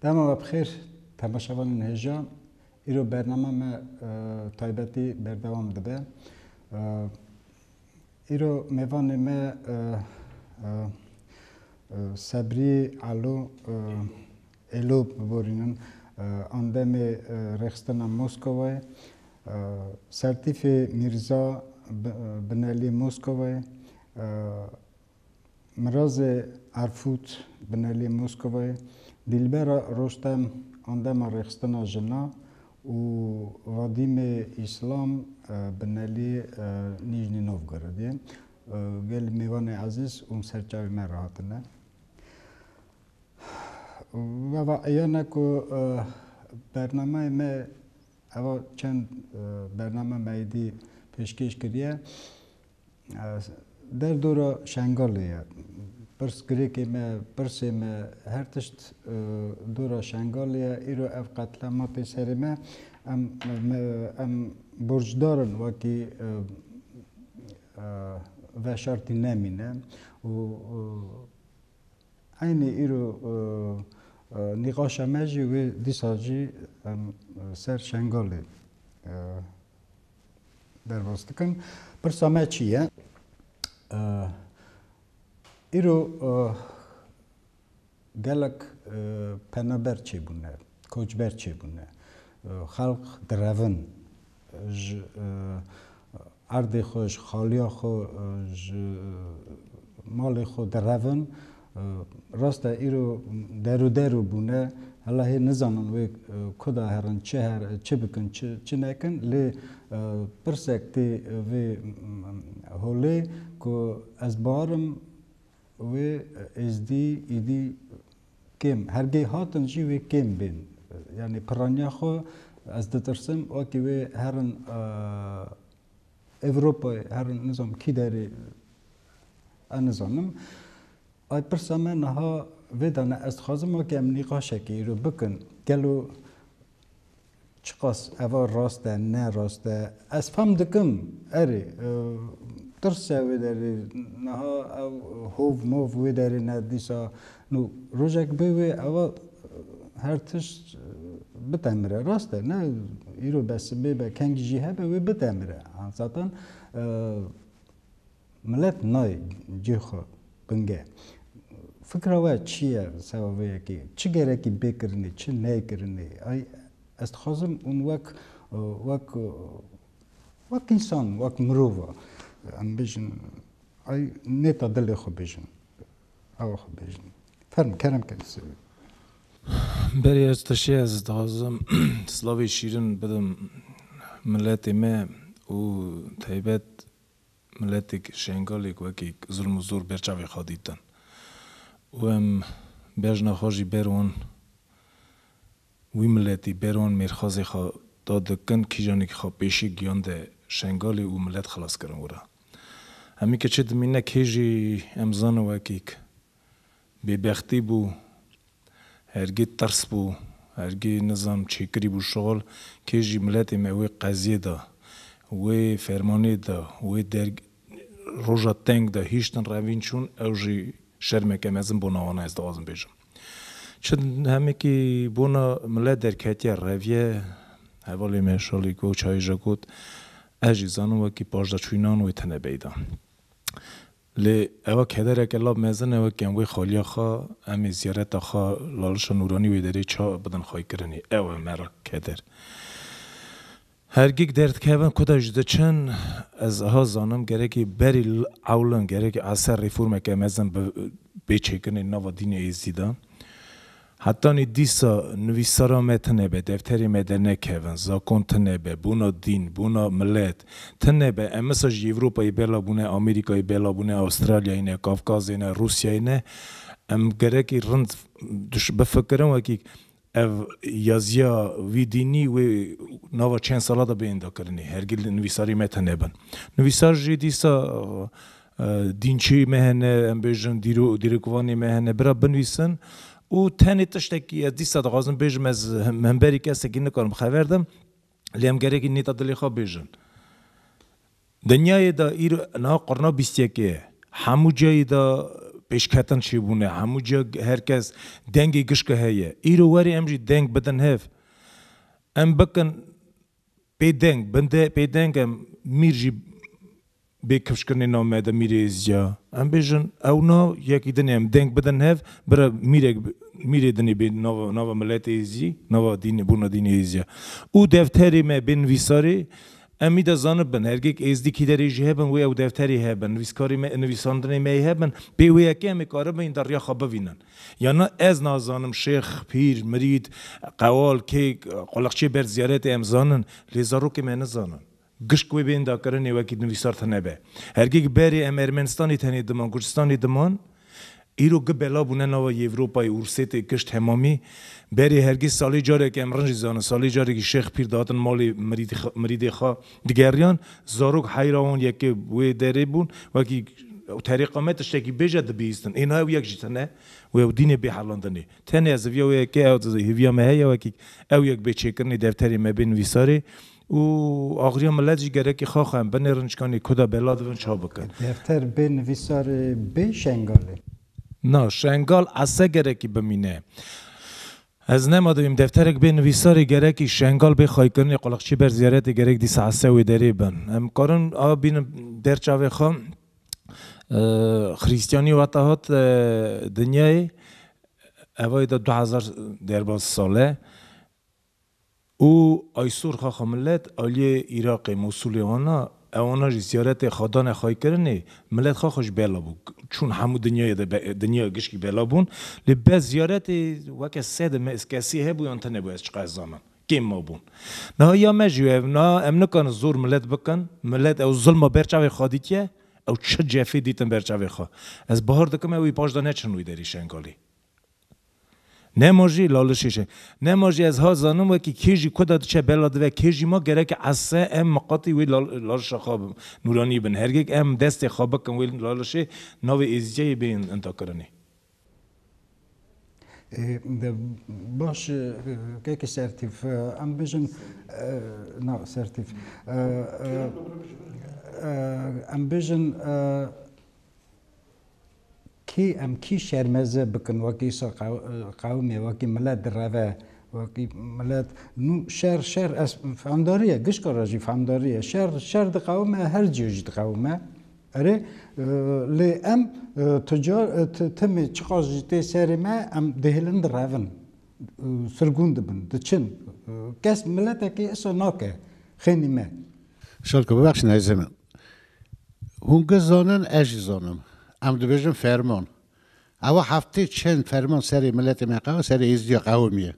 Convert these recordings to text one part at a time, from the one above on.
Dema we bixêr temaşevanên hêja. Îro bername me taybetî berdewam dibe. Îro mêvanê me Sebrî Elo Elo biborînin Andemê Rêxistina Moskowayê, Sertîfê Mîrza Binelî Moskowayê, Mirazê Erfût Binelî Moskovayê Dîlbera Rostem Andema Rêxistina Jina û Vadîmê Îslam Binelî Nîjnî Novgorodê gelê mêvanê ezîz û serçavê me re hatine. Eva eyan e ku bernameyê me eva çend bername me êdî pêşkêş kiriye. Derdora Şengalê ye. Pirs girêkê me, pirsê me, her tişt dora Şengalê ye. Îro ev qetlîam hate serê me. Em em borcdar in wekî veşartî nemîne û eynî îro nîqaşa me jî wê dîsa jî em ser Şengalê Derbas dikin. Pirsa me çi ye? Îro gelek penaber çêbûne, koçber çêbûne. Xelq direvin ji erdê xwe, ji xaliya xwe, ji malê xwe direvin Rast e îro deru deru bûne hela hê nizanin wê kuda herin çi her çi bikin çi nekin lê pirsek tê vê holê ku ez barim wê êzdî îdî kêm hergê hatin jî wê kêm bên yanî piraniya xwe ez ditirsim wekî wê herin Ewropayê her nizam kî derê ez nizanim. Ay pirsa me niha vê de ne. Ez dixwazim weke em nîqaşekê îro bikin. Gelo çiqas eva rast e, ne rast e. Ez fam dikim erê tirse wê derê niha ew hov mov wê derê ne dîsa Nû rojek bê wê ava her tişt bitemire. Rast e ne îro be sibê be kengî jî hebe wê bitemire. Zatan milet nayê cihê xwe binge. Fikra we çi ye li ser ava yekê? Çi gerekî bê kirinê, çi neyê kirinê? Ay ez dixwazim hûn wek wek wek însan, wek mirov em bijin. Ay nêta dilê xwe bijin. Awa xwe bêjin. Ferm kerem ke li ser wî. Berê ez teşê ez dixwazim silavê şîrin bidim miletê me û taybet miletêk şengalêk wekî zilm û zor ber çavê xwe dîtin û em bejna xwe jî ber wan Wî miletî bêr wan mêrxazê xwe da di kin, kîjanekî xwe pêşik giyande Şengalê û milet xilas kirin wir a. Hemî ke çi dimîne kê jî em zane wekîk bêbextî bû, hergî tirs bû, hergî nizam çê kirî bû şixul, kê jî miletê me wê qeziyê de, wê fermanê de, wê der roja teng de hîştin revîn çûn, ew jî şermeke mezin bû navana ez dixwazim bêjim. Çend demekî bona mile derketiye reviye, hevalê me Şalî Goçayî jî got, Ez jî zanim wekî pajdaçûyînan wê tune beyda. Lê ewa kedereke la mezin e wekî em wê xaliya xwe, em ê ziyareta xwe Lalişa Nûranî wê derê ça bidin xwaykirinê. Ew e me ra keder. Hergik derdikevin ku te ji diçin, ez eha zanim gerekî berî ewlin gerekî a ser rîformeke mezin bê çêkirinê li nava dînê êzidî de. Hetanî dîsa nivîsara me tine be, defterê me dernekevin, zakon tine be, bûna dîn, bûna milet, tine be, em misa ji Ewropayê bela bûne, Amerîkayê bela bûne, Astralyayê ne, Kafkazê ne, Rûsyayê ne, em gerekî rind bifikirin wekî Ev yaziya Wîdînî wê nava çend sala de bêhenda kirinê. Hergil nivîsarê me tune bin. Nivîsar jî dîsa dînçeyê me hene, em bêjin dîrok dîrokvanê me hene, bira binivîsin û tenê tiştekî ez dîsa dixwazim bêjim ez himberî kesekî nikarim xeber dîm, lê em gerekî nêta dilê xwe bêjin. Dinyayê de îro niha qurna bîst yekê ye. Hemû cihê de pêşketin çêbûne, hemû ciha her kes dengê gişka heye. Îro were em jî deng bidin hev. Em bikin pê deng, bin pê deng em mîr jî. Bê kifşkirinê nav me de mîrêz ya. Em bêjin ew na yekî dinê em deng bidin hev bira mîrek mîrê dinê bê nava nava miletê zî nava dînê bona dînê êz ya. Û defterê me bê nivîsarê em mî de zanibin hergêk êzdî kîderê jî hebin wê ew defterê hebin nivîskarê me nivîsandinê me yê hebin bê wê yekê em ê karibin yê derriya xwe bivînin. Ya na ez nazanim şêx, pîr, mirîd, qewal kê quleqçê berd ziyaretê em zanin lê zarokê me nizanin. Gişt wê bênda kirinê wekî nivîsar tune be. Hergik berê em Ermenistanê tenê diman, Kurdistanê diman, îro gi bela bûne nava Yevropayê û Rusê tê gişt hemamî berê hergîz salê careke em rinc dizanin salê carekî şêx pîr dihatin malê mirîdê xwe digeriyan zarok heyra wan yekê wê derê bûn wekî terêqa me tiştekî bêje dibihîstin êna ew yek jî tune wê ew dînê bê helandinê tenê ez hêviya wê yekê ew hêviya me heye wekî ew yek bê çêkirinê defterê me bê nivîsarê Û agirîya milet jî gerekî xax e, em binê rinçkanî ku de bela divin çav bikin. Defter bê nivîsar ê bê şengal ê. Na, şengal ese gerekî bimîne. Ez nema dibîm defterek bê nivîsar ê gerekî şengal bê xaykirinê quliqçî ber ziyaretê gerek dîsa ese wê derê bin. Em karin a bînin der çavê xwe xirîstîyanî weta hat dinyayê evayê de du hezar derbas sal e. Û Aysor Xaxa Milet aliyê Îraqê Mosulê ana, ew ana jî ziyaretê xadanê xayî kirinê, milet xaxa jî bela bû. Çûn hemû dinyayê de be, dinyaya gişkî bela bûn. Lê bes ziyaretê weke sed me kesî hebû yan tune bû ez çiqas zanim. Kêm mabûn. Niha ya me jî ev na, em nikarin zor milet bikin. Milet ew zilma ber çavê xwe dîtiye, ew çi cefê dîtin ber çavê xwe. Ez bahar dikim ew ê paşda neçin wî derî Şengalê. Nemo jî Lale Şêşe, Nemo jî ez ha zanim wekî kê jî ku de diçe bela dive kê jî ma gereke esse em miqatî wê Lale Şêşe xwe nûranî bin. Hergek em destê xwe bikin wê Lale Şêşe navê êzîceyê bê intakirinê. Baş e keke sertîf em bijin na sertîf em bijin Kî em kî şermeze bikin wekî qewimê, wekî milet direve, wekî milet nû şer şer fehamdarî ye, gişka re jî fehamdarî ye. Şer şer diqewime, her cî jî diqewime. Erê lê em tu car tu timî çiqas jî tê serê me em dihêlin direvin, sirgûn dibin, diçin. Kes miletekî îsa nake xênî me. Şerko bibexşîne hêzê min. Hûn giş zanin, ez jî zanim. Em dibêjin ferman. Ewa heftê çend ferman serê miletê me qe, serê êzdiya qewimî ye.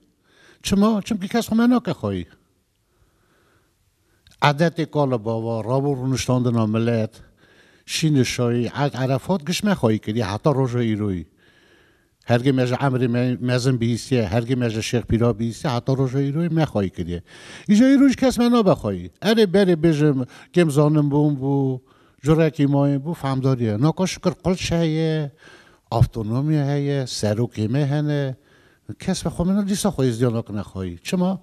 Çima? Çimkî kes xwe me nake xwayî. Edetê kal û bava, rabû rûniştandina milet, şînişayî, erd, erefat giş me xwayî kiriye heta roja îroyî. Hergê me ji emrê me mezin bihîstiye, hergê me ji Şêx Pîra bihîstiye heta roja îroyê me xwayî kiriye. Îja îro jî kes me nabe xwayî. Erê berê bêjim kêm zanin bûm bû, curekî mayîn bû, fehmdarî ye. Naka şikir qulç heye, avtonomî heye, serokê me hene. Kes me xwe min dîsa xwezîya nakine xwayî. Çima?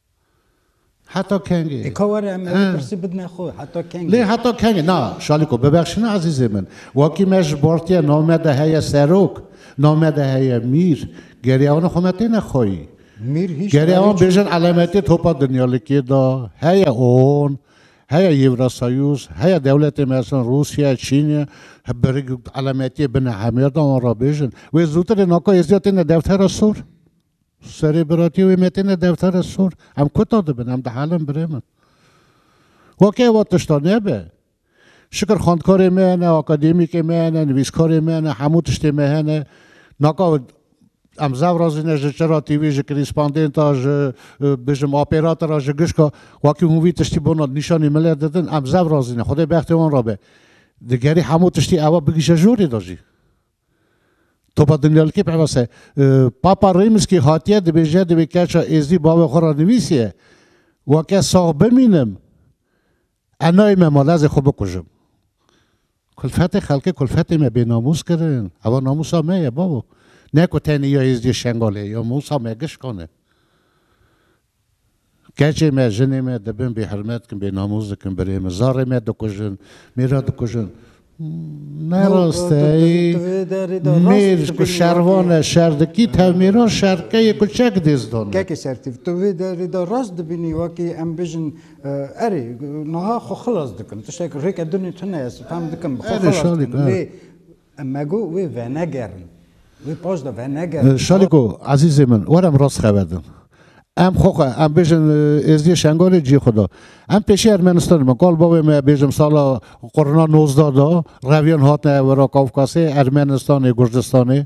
Heta kengê? Ê ka were em ê pirsî bidine xwe, heta kengê? Lê heta kengê? Na, Şalîko, bibexşîne ezîzê min. Wakî me ji Bartiyê name de heye Serok, name de heye Mîr, gerê wan xwe me têne xweyî. Mîr hîç Gerê wan bêjin elemetê topa dinyalikê de heye ûon, heye Yewrasayûz, heye dewletê mesan Rûsye, Çîn e, bi elemetiyê bine hemêr de wan re bêjin. Wê zûtir ê naka êzdiya têne Dewtera Sor? Serê biratî wê metîne deftere sor. Em kuta dibin, em dihelin birê min. Weke eva tişta nebe. Şikir xwendkarê me hene, akademîkê me hene, nivîskarê me hene, hemû tiştê me hene. Naka em zev razî ne ji çira tîvî, ji krîspandênta, ji bijim apêrata re, ji gişka wekî hûn vî tiştî bona nîşanî millet didin, em zev razî ne. Xwedê bextê wan re be. Digerî hemû tiştî eva bigîşe jorê de jî. Topa Dinyalîkê peyvast e. Papa Rêmskî hatiye dibêje di vê keça êzdî bavê xwe ra nivîsiye, Weke sax bimînim ez nayê me mal ez ê xwe bikujim. Kulfetê xelkê kulfetê me bênamûs kirin. Ewa namûsa me ye bavo. Ne ku tenê ya êzdiyê Şengalê ya mûsa me gişkan e. Keçê me, jinê me dibin bêhirmet kin, bênamûs dikin, birê min, zarê me dikujin, mêra dikujin. Ne rast e. Mêr ku şervan e, şer dikî, tevmêran şerkeyê ku çek dêz dane. Keke şertîv. Tu vê derê de rast dibînî wekî em bijin erê niha xwe xilas dikim. Tiştek rêke dinê tune ez fem dikim xwe xilas dikim. Lê Em mego wê venegerin. Wê paş de venegerin. Şaliko, ezîzê min, were em rast xeber din. Em xwe xwe, em bêjin Êzidiyê Şengalê ciyê xwe da. Em pêşî Ermenistanê me. Kal bavê me bêjim sala qurna nozdeh da reviyan hatine wera Kavkasê, Ermenistanê, Gurdistanê.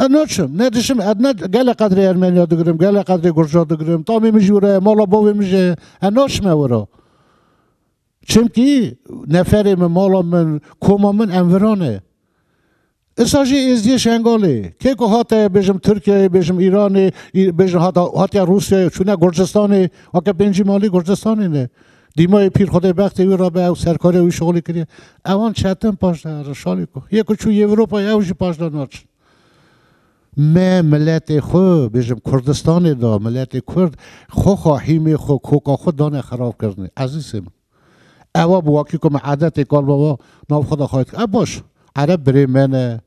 Ez naçim, ne dişim, ez ne gelê qedrê Ermeniya digirim, gelê qedrê Gurca digirim, tamê min jî wira ye, mala bavê min jî heye, ez naçime wira. Çimkî neferê min, mala min, koma min em viran e. Îsa jî êziyê Şengalê. Kê ku hate bêjim Tirkiyeyê, bêjim Îranê, bêjim hatiye Rûsyayê, çûne Gurcistanê, weke pêncî malê Gurcistanê ne. Dîmayê pîr xwedê bextê wî rabe ew serkarê wî şolî kiriye. Ewan çetin paş de herin şalî ku. Yê ku çû Ewropayê ew jî paş de naçin. Me miletê xwe bêjim Kurdistanê de miletê Kurd xoxa hîmê xwe koka xwe dane xerabkirinê. Ezîzê min. Ewa bi wakî ku me edetê kalbaba nav xwe de xayît kir. E baş. Ereb birê me ne,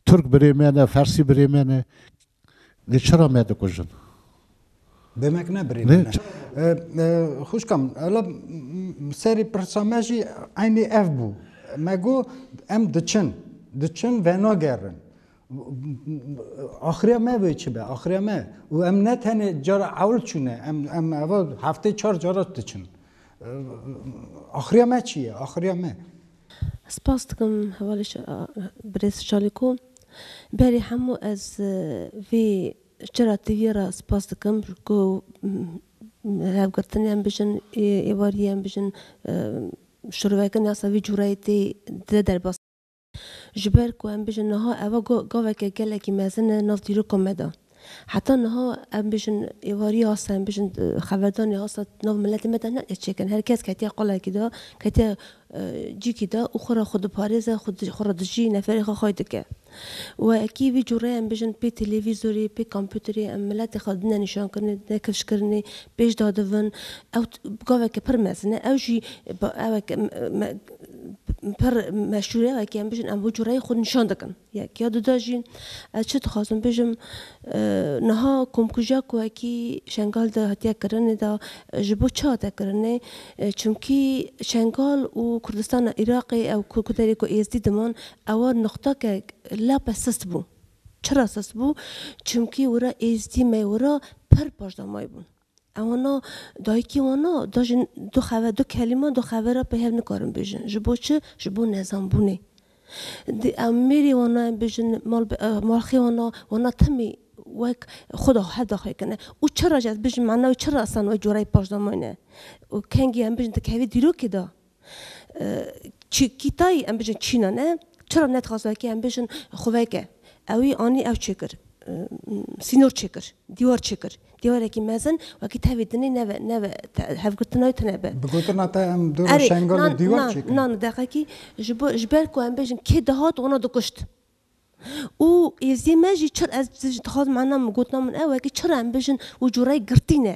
Turk birê me ne, Fersî birê me ne. Dê çira me dikujin? Demek ne birê min e. Xwişkam ela serê pirsa me jî eynî ev bû. Me got em diçin. Diçin venagerin. Axiriya me wê çi be? Axiriya me û em ne tenê cara ewl çûne em em eva heftê çar cara diçin. Axiriya me çi ye? Axiriya me. Spas dikim hevalê birêz Şalîko. Berî hemû ez vê Çera TV'ye re spas dikim ku revgirtinên bijin, êvariyên bijin şurveke nasa vî cureyê tê de derbas. Ji ber ku em bijin niha eva gaveke gelekî mezin e nav dîroka me de. Heta niha em bijin êvarî asta em bijin xeverdanê asta di nav miletê me de ne dê çêkin. Her kes ketiye qalekî de, ketiye cîkî de û xwe re xwe diparêze, xwe re dijî, neferê xwe xay dike. Wekî vî cûre em bijin pê televîzorê, pê kompûterê em miletê xwe dine nîşankirinê, dine kifşkirinê, pêş dadivin. Ew gaveke pir mezin e. Ew jî eweke pir meşûr e, wekî em bijin em vî cûreyê xwe nîşan dikin. Yek ya du de jî ez çi dixwazim bijim, niha komkujiya ku wekî Şengal de hatiye kirinê de ji bo çi hate kirinê? Çimkî Şengal û Kurdistana Iraqê ew ku ku derê ku Êzdî diman ewa nuqteke lape sist bû. Çira sist bû? Çimkî wira Êzdî me wira pir paşdamayî bûn. Ew wana, Dayikê wana, da ji du xever, du kelîman du xever re pê hev nikarin bijin. Ji bo çi? Ji bo nezanbûnê. Di em mêrê wana em bijin, mal bi malxê wana, wana temî wek xwe da hev da xwe kine. Û çira ji ez bijim, mana wê çira esan wê cora yê paşdamayî ne. Û kengî em bijin dikevî dîrokê da. Çîkîtayî em bijîn çîna ne, çira ne dixwaz wekî em bijîn xweveke. Ewî anî ew çêkir, sînor çêkir, dîwar çêkir. Dîwarekî mezin wekî tevî dinê neve neve hevgirtina wî tune be. Bi gotina te em dû roj şengalê dîwar çêkirin. Na na na deqekî ji bo ji ber ku em bijîn kê dihat wana dikuşt. û êzî me jî çi ez dixwazim mena min gotina min ew e ku çira em bijin û cureyê girtîne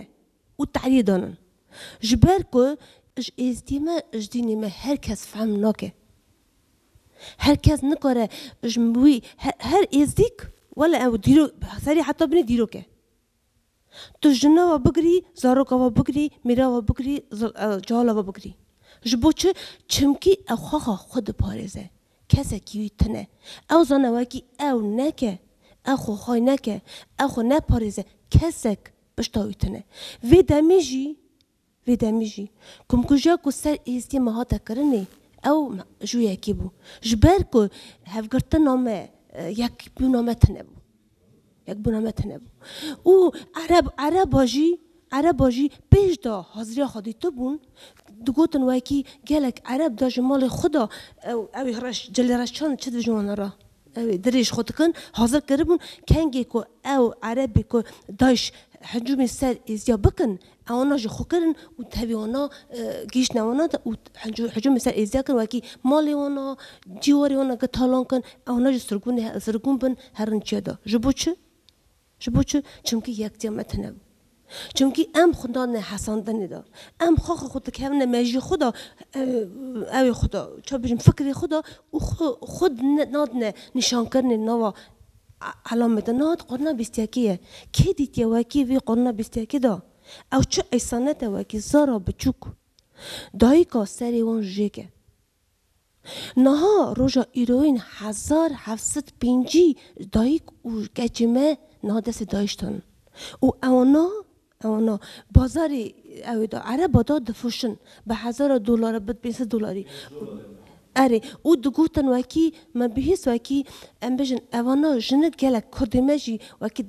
û tehliyê danin. Ji ber ku ji êzdî me ji dînê me her kes fehm nake. Her kes nikare ji wî her êzdîk wele ew dîrok serê heta binê dîrok e. Tu jina we bigirî, zaroka we bigirî, mîra we bigirî, cihala we bigirî. Ji bo çi? Çimkî ew xaxa xwe diparêze. Kesekî wî tune. Ew zane wekî ew neke, ew xwe hay neke, ew xwe neparêze. Kesek pişta wî tune. Vê demê jî. Vê demê jî komkujiya ku ser Êzidiyê me hate kirinê ew ju yekê bû. Ji ber ku hevgirtina me, yekbûna me tune bû. Yekbûna me tune bû. Û ereb, ereba jî, ereba jî pêş de haziriya xwe dîtibûn, digotin wekî gelek ereb de ji malê xwe de ew, ew ê reş, cilê reş çand çi dibêjin wana re, ew ê dirêj xwe dikin, hazir kiribûn, kengê ku ew erebê ku dayîş hicûmê ser Êzidiya bikin, Ewna jî xwe kirin û tevî wana gihîştine wana de û hicûm li ser Êziya kirin wekî malê wana, cîwarê wana girt talan kirin, ewna jî sirgûnê sirgûn bin herin çiya de. Ji bo çi? Ji bo çi? Çimkî yektiya me tune bû. Çimkî em xwe dadine hesandinê de. Em xaxa xwe dikevine mejiyê xwe de ewê xwe de, çawa bêjim fikrê xwe de û xwe xwe nadine nîşankirinê nava Elam bidin niha di qurna bîstiyekî ye. Kê dîtiye wekî vî qurna bîstiyekî de? Ew çi eysanet e wekî zara biçûk dayika serê wan jêk e. Niha roja îroyîn hezar heft sed pêncî dayik û keçê me niha destê dayiştan in û ew niha Ewno bazarî ew ê da ereba da difroşin bi hezara dolara bi pênc sed dolarî. Erê û digotin wekî me bihîst wekî em bijin evana jinik gelek kurdê me jî wekî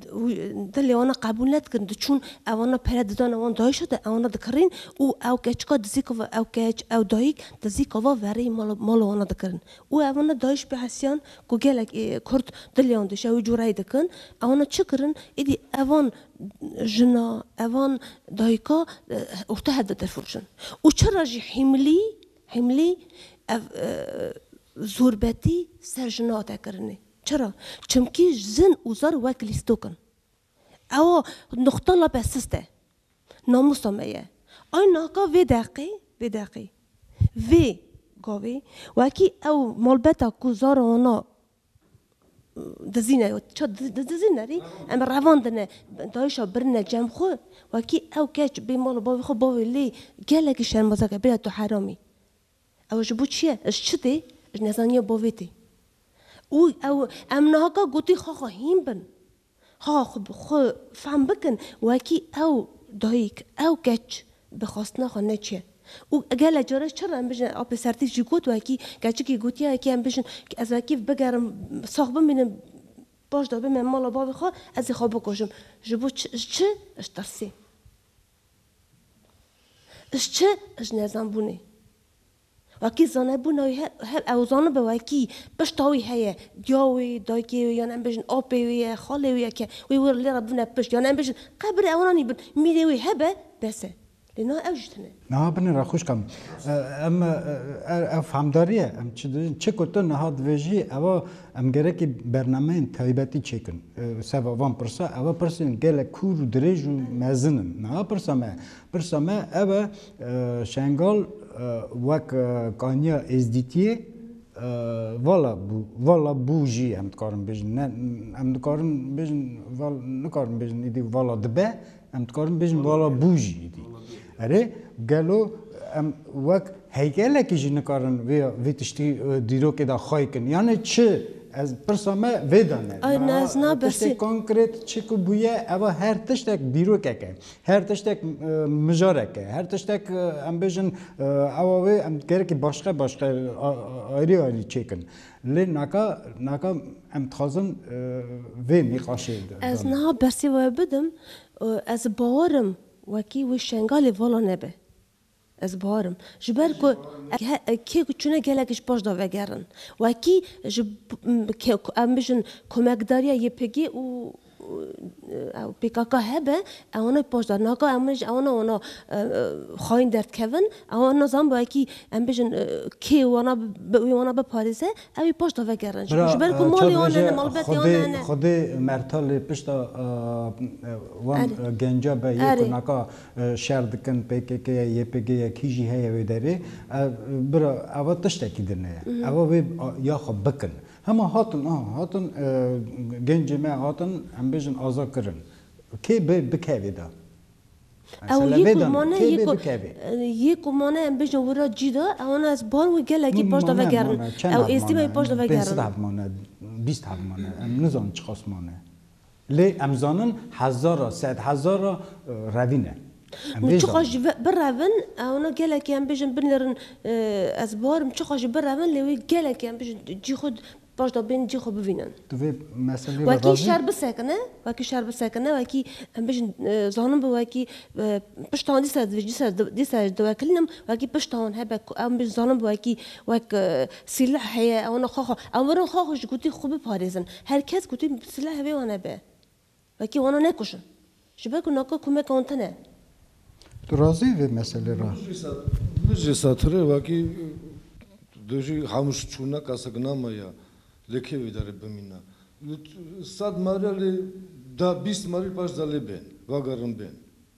dilê wan a qebûl nedikin diçûn evana pere didane wan dayîşa de ewna dikirîn û ew keçika dizîka va ew keç ew dayîk dizîka va vereyê mala wan a dikirin û evana dayîş bihesiyan ku gelek ê kurd dilê wan dişe wî cureyê dikin ewna çi kirin êdî evan jina, evan, dayika orta hev de tefurçin. Û çira jî hîmlî, hîmlî, ev zorbetî ser jina te kirinê. Çira? Çimkî jin û zar wek lîstok in. Ewa nuqta lape sist e. Namûsa me ye. Ay naka vê deqê, vê deqê, vê gavê wekî ew malbeta ku zara wana Dizîne ça dizîne rî em ê revandine dayişa birine cem xwe wekî ew keç bê mala bavê xwe bavê lê gelekî şermezar kir bira tu heramî ew ji bo çi ye ji çi tê ji nezaniya bavê tê û ew em niha ka gotî xaxa hîn bin. Ha xwe bi xwe fehm bikin wekî ew dayik, ew keç bi xwestina xwe neçiye û gelek caran çi re em bijîn apê sertîk jî got wekî keçikî gotiya yekê em bijîn ki ez wekî bigerim sax bimînim baş dabê me mala bavê xwe ez ê xwe bikujim ji bo çi ji çi ji tirsê ji çi ji nezanbûnê. Wekî zanebûna wî her ew zanibe wekî pişta wî heye, giya wê, dayikê wê yan em bêjin apê wê ye, xalê wê ye ke wê wir lê re bûne pişt yan em bêjin qebirê ewananî bin mîrê wê hebe bes e. Lê niha ew jî tune. Niha binê re xwişka min. Em ev fehmdarî ye em çi dibêjin. Çi ku tu niha dibêjî ew e em gerekî bernameyên taybetî çêkin ser van pirsa. Ew pirsên gelek kûr û dirêj û mezin in. Niha pirsa me ye. Pirsa me ew e Şengal wek kaniya Êzdîtiyê vala bû, vala bû jî em dikarin bêjin. Ne em dikarin bêjin val nikarin bêjin îdî vala dibe, em dikarin bêjin vala bû jî îdî. Erê gelo em wek heykelekî jî nikarin vê vê tiştî dîrokê de xay kin? Yanê çi? Ez pirsa me vê de ne. Tiştê konkret çi ku bûye ev a her tiştek dîrokek e. Her tiştek mijarek e. Her tiştek em bêjin ewa wê em gerekî başqe başqe ayrî ayrî çêkin. Lê naka naka em dixwazin vê nîqaşê de. Ez niha bersê we bidim, ez bawerim wekî wê Şengalê vala nebe. Ez barim. Ji ber ku kê ku çûne gelek ji paş da vegerin. Wekî ji em bijin komekdariya YPG û pkk hebe ewana ji paş da naka em ji ewana wana xayîn derdkevin ewan nazan wekî em bijin kê wana wê wana biparêze ew ê paş da vegerin. Ji ber ku malê wan hene malbetê wan hene. Xwedê mertal lê pişta wan genca be yê ku naka Şer dikin PKK'ye, YPG'ye kî jî heye wê derê. Ev bira eva tiştekî din e. Eva wê ya xwe bikin. Hema hatin aha hatin gencê me hatin em bêjin aza kirin. Kê bê bikevê de. Ew yê ku mane yê ku yê ku mane em bêjin wira cî de ewana ez bar wê gelekî paş de vegerin. Ew êstî me wê paş de vegerin. Pênc sed heb mane bîst heb mane em nizanin çiqas mane. Lê em zanin hezar ra, sed hezar ra revîn e. Em vê Çiqas jî zanin. birevin, ona gelekî em bêjin binêrin ez bar im, çiqas jî birevin lê wê gelekî em bêjin cî xwe paş de bên cî xwe bivînin. Tu vê meseleyê re razî Wekî şer bisekine, wekî şer bisekine, wekî em bêjin zanin bi wekî pişta wan dîsa divê dîsa dîsa ez diwekilin im, wekî pişta wan hebe ku em bêjin zanin bi wekî wek sîleh heye ona xwe xwe em werin xwe xwe ji gotî xwe biparêzin. Her kes ku tê bi silehê vê wan hebe, wekî wan e nekuşin. Ji ber ku naka komeka wan tune. Tu razî î vê meselê re? Min jî setirê wekî tu jî hemû şî çû ne kesek nama ye. Lê kê vê derê bimîne? Li sed merê lê deh bîst merî paş delê bên, vegerin bên.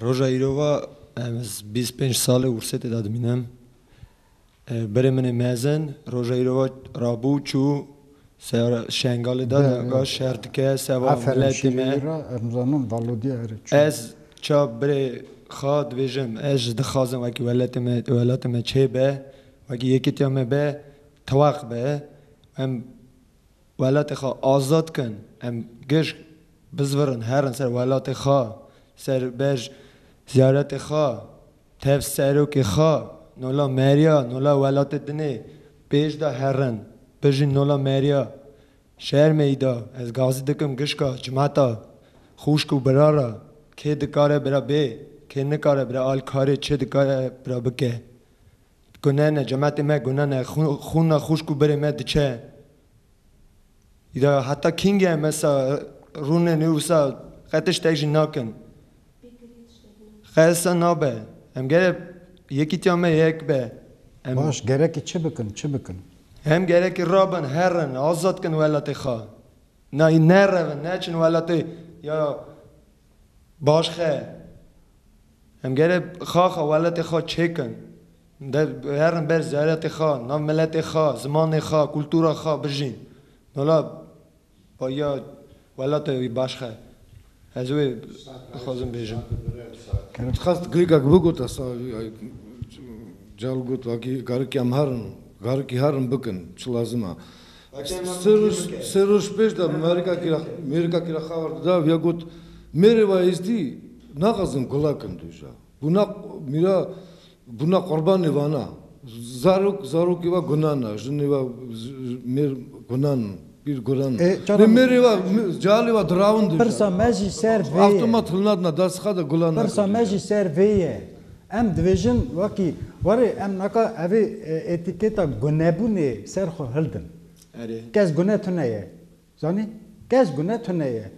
Roja îro ve em ez bîst û pênc sal e Wursetê de dimînim. Berê min ê mezin roja îro ve rabû û çû seyara Şengalê de ga şer dike seba miletê me. Em zanin valodîya erê çû. Ez ça berê xwe dibêjim ez jî dixwazim wekî weletê me welatê me çêbe wekî yekîtiya me be tewaq be. Em Welatê xwe azad kin, em giş bizvirin herin ser welatê xwe, ser bej ziyaretê xwe, tev serokê xwe, nola meriya, nola welatê dinê pêş de herin, bijîn nola meriya şer meyda, ez gazî dikim gişka cimeta xûşk û bira re, kê dikare bira bê, kê nikare bira alî karê çi dikare bira bike. Gunene cematê me gunene xûna xûşk û birê me diçe îda heta kînge me sa rûne nê wisa qe tiştek jî nakin qe sa nabe em gere yekîtiya me yek be em Baş gerekî çi bikin çi bikin? Em gerekî rabin herin azad kin welatê xwe na nerevin neçin welatê ya Baş xe. Em gere xa xa welatê xa çêkin. Herin ber ziyaretê xa, nav miletê xa, zimanê xa, kultura xa bijîn. Wela ya welate wî baş xe. Ez wê dixwazim bêjim. Em dixwest klîkek bigot esa cal got vakî garikî em herin, garikî herin bikin çi lazim e. Sê roj pêş de mêrika kira xewar dida û ya got, Mêrê wa êzdî naxwazin gula kin dûja. Bûna mîra bûna qurbanê vana. Zarok zarokê wa gunan a, jinê wa mêr gunan in, pîr gunan in. Lê mêrê wa cealê wa dirawin dûja. Pirsa me jî ser vê ye. Avtomat hilnadina dasixa de gulan nakin dûja. Pirsa me jî ser vê ye. Em dibêjin wekî warê em naka evê etîketa gunebûnê ser xwe hildin. Kes gune tune ye. Zanî? Kes gune tune ye.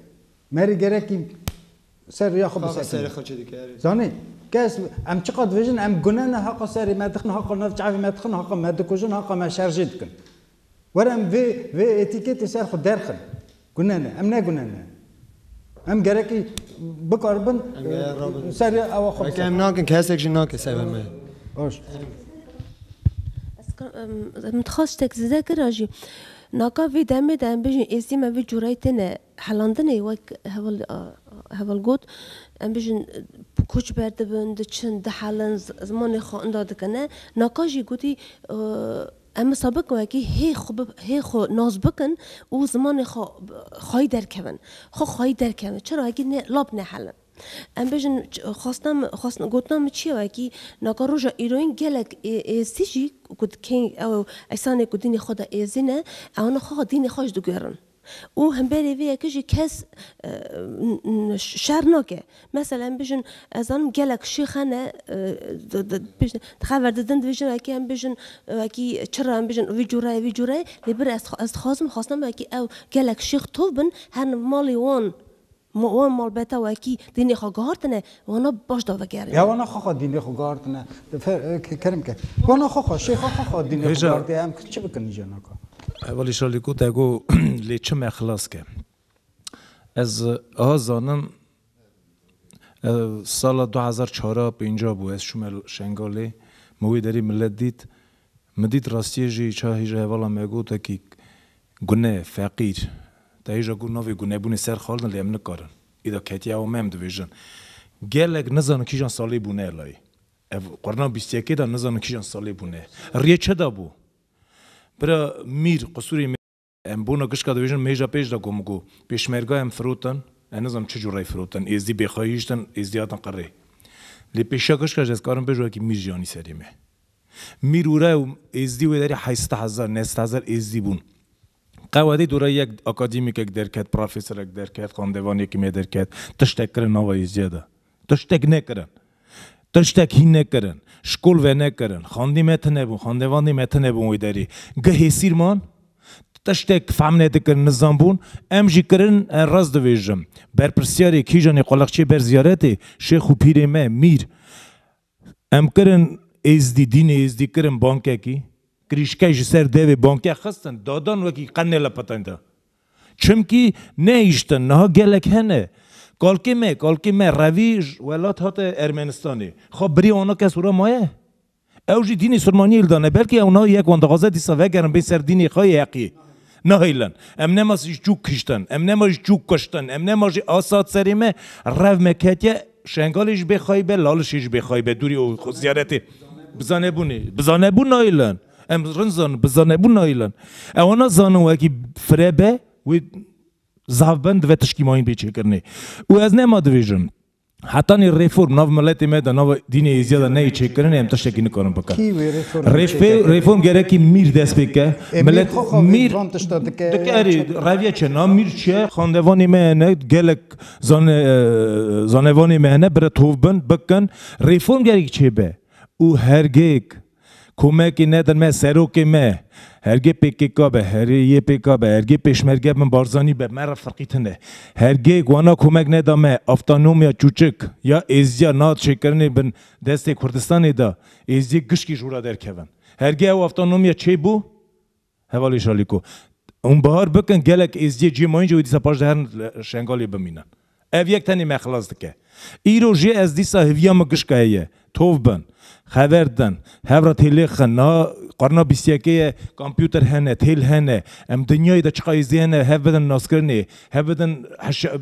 Merî gerekî ser rêya xwe bisekine. Zanî? Kes em çiqas dibêjin em gune ne haqa serê me dixin, haqa navçe evê me dixin, haqa me dikujin, haqa me şer jê dikin. Were em vê vê etîketê ser xwe derxin. Gune ne. Em ne gune ne. Em gerekî bikaribin serê ewa xwe biserxin. Em nakin kesek jî nake ser vê me. Baş. Ez min dixwest ştek zêde kira jî. Naka vê demê de em bijîn êstî me vê cureyê têne helandinê wek heval heval got em bijîn koç berdibin, diçin, dihelin, zimanê xwe inda dikin ne. Naka jî gotî Em bi sabik wekî hê xwe bi hê xwe nas bikin û zimanê xwe xwayî derkevin. Xwe xwayî derkevin. Çira wekî ne lap nehelin. Em bêjin xwestina min xwestina gotina min çi ye wekî naka roja îroyîn gelek ê êzidî jî ku dikeyî ew ew esanê ku dînê xwe de êzî ne ew ne xweha dînê xwe ji digerin. Û hemberî vê yekê jî kes şer nake. Mesela em bijin ez zanim gelek şêx hene dixe verdidin di vê jina yekê em bijin wekî çira em bijin vî cûre ye vî cûre ye lê bir ez dixwazim xwestina min wekî ew gelek şêx tov bin herin malê wan Ma wan malbata wekî dînê xwe guhartine, wana baş da vegerîne. Ya wana xwe xwe dînê xwe guhartine, kerem ke. Wana xwe xwe, şêxa xwe xwe dînê xwe guhartiye, em çi bikin îcar naka. Welî şalî ku te got lê çi me xilas ke. Ez a zanim sala du hezar çar a pênc a bû ez çûme Şengalê, min wê derî milet dît, Min dît rastiyê jî ça hîja hevala me gotekî gune, feqîr. Ta hîja ku navê gunebûnê ser xalidin lê em nikarin. Îda ketiye awa me em dibêjin. Gelek nizanin kîjan salê bûne layê. Ev qurna bîst yekê de nizanin kîjan salê bûne. Riyê çi dabû? Bira Mîr, qisûrê me. Em bona kişka dibêjin mehêja pêş de ku min got, pêşmerga em firotin, ez nizanim çi cûreyê firotin, êzdî bêxwe hiştin, êzdî hatin qirê. Lê pêşiya kişka jî ez karim bêjim wekî mîr jî anî serê me. Mîr û re û êzdî wê derê heyset hezar, newset hezar êzdî bûn. Qewedî dora yek akademîkek derket, profeserek derket, xandevanekî me derket, tiştek kirin nava êzdîya de. Tiştek nekirin. Tiştek hîn nekirin. Şkol ve nekirin. Xandî me tine bûn. Xandevandî me tine bûn wê derî. Geh hêsîr man. Tiştek fehm nedikirin, nizanbûn. Em jî kirin, ez rast dibêjim. Berpirsyarê Kîjanê Qulexçê ber ziyaretê şêx û pîrê me, Mîr. Em kirin Êzdî, dînê Êzdî kirin bankekî, kirîşkek ji ser devê bankek xistin, dadan wekî qe nêla petenda. Çimkî nehiştin, niha gelek hene. Kalkê me, kalkê me revî ji welat hate Ermenistanê. Xwe birî ana kes û re maye? Ew jî dînê Silmaniyê li dane, belkî ew niha yek wan dixwaze dîsa vegerin bên ser dînê xwe yê heqî. Nehêlin. Em nema ji çûk kiştin. Em nema ji çûk kuştin. Em nema jî asat serê me. Rev me ketiye. Şengalê ji bê xayî be, Lalişê ji bê xayî be. Dûrî û ziyaretê. Bi zanebûnê. Bi zanebûn nahêlin. Em rind zanin. Bi zanebûn nahêlin. Ewa na zanin wekî fire be wê zav bin divê tişkî mayîn bê çêkirinê. Û ez nema dibêjim. Heta nê reform nav miletê me de nav dînê Êziya de neyê çêkirinê em tiştekî nikarin bikin. Kî wê reform Rê çêke pê kiriye? reform gerekî mîr dest pê ke. E, mîr Milet xwe xwe vê mîr van tişta dike dike ya erê çi dike? reviye çi na mîr çi ye? Xandevanê me hene gelek zane e, zanevanê me hene bire tovbin bikin. Reform gerekî çêbe û hergêk. Komekî nedin me serokê me. Hergê pkk be, herê ypk be, hergê pêşmerge bin Barzanî be me re firqîtin ne. Hergê wana komek neda me avtanomya çûçik ya êzdiya na çêkirinê bin destê Kurdistanê de êzdiyê gişkî ji wira derkevin. Hergê ew avtanomya çêbû Hevalê Şalîko, Hûn bihar bikin gelek êzidiyê cihê ma yîn jî wê dîsa paşde herin Şengalê bimînin. Ev yek tenê me xilas dike. Îro jî ez dîsa hiviya min gişka heye. Tov bin. Xever din. Hev re têlêxin. Niha qarna bîst yekê ye. Kompûter hene. Têl hene. Em dinyayê de çiqa êzidî hene hev bidin naskirinê. Hev bidin